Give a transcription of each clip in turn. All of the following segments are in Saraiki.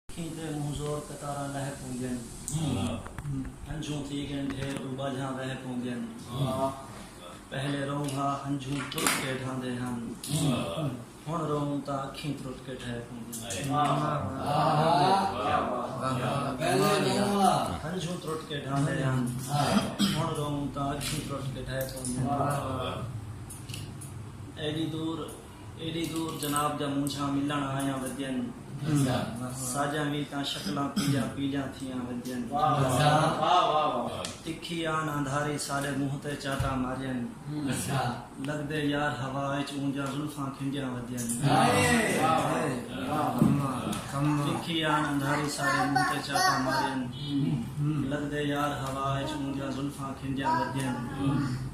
کھیندے مونہہ زور قطاراں لہہ پوندین ہنجھوں تھی گن ڈھیر او باجھاں وہہ پوندین پہلے روں ہا ہنجھوں ترٹ کے ڈھاندے ہن ہن روں تاں اکھیں ترٹ کے ڈھہ پوندین ہنجھوں ترٹ کے ڈھاندے ہن ہن روں تاں اکھیں ترٹ کے ڈھہ پوندین ایڈی دور ایݙی دور جناب دا مونجھاں ملݨ آیاں ودین ساجاں وی تاں شکلاں پیلیاں پیلیاں تھیاں ودین تکھی آن اندھاری ساݙے مونہہ تے چاٹاں مارین لڳدے یار ہوا اچ اونجھاں زلفاں کھنڈیاں ودین تکھی آن اندھاری ساݙے مونہہ تے چاٹاں مارین لڳدے یار ہوا اچ اونجھاں زلفاں کھنڈیاں ودین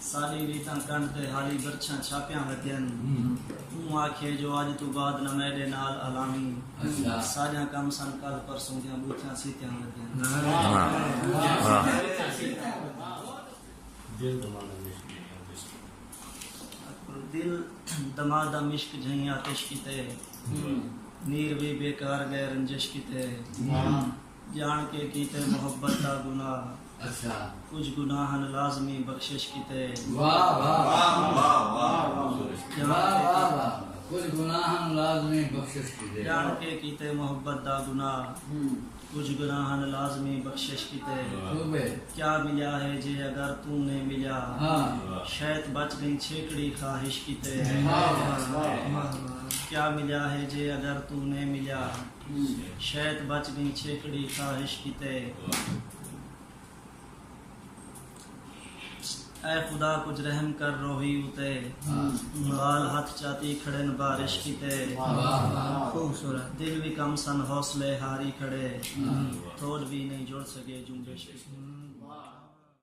ساݙی ریتاں کنڈ تے حالی برچھاں چھاپیاں وتین اوں آکھیے جو اڄ توں بعد نہ میݙے نال الاویں ساݙیاں کم سن کل پرسوں دیاں ٻوتھیاں سیتیاں وتین۔ دل دما دا مشک جھئیں آتش کیتے نیر وی بیکار ڳئے رنجش کیتے۔ جاݨ کے کیتے محبت دا گناہ اچھا کجھ گناہ ہن لازمی بخشش کیتے واہ واہ واہ واہ واہ کجھ گناہ ہن لازمی بخشش کیتے جاݨ کے کیتے محبت دا گناہ کجھ گناہ ہن لازمی بخشش کیتے کیا ملیا ہے جے اگر تو نے ملیا شیط بچ گئی چھیکڑی خواہش کیتے کیا ملیا ہے جے اگر تو نے ملیا شیت بچ گئیں چھیکڑی خواہش کیتے اے خدا کچھ رحم کر روہی اتے بال ہاتھ چاتی کھڑے نہ بارش کیتے خوبصورت دل بھی کم سن حوصلے ہاری کھڑے تھوڑ بھی نہیں جڑ سکے جنبش کیتے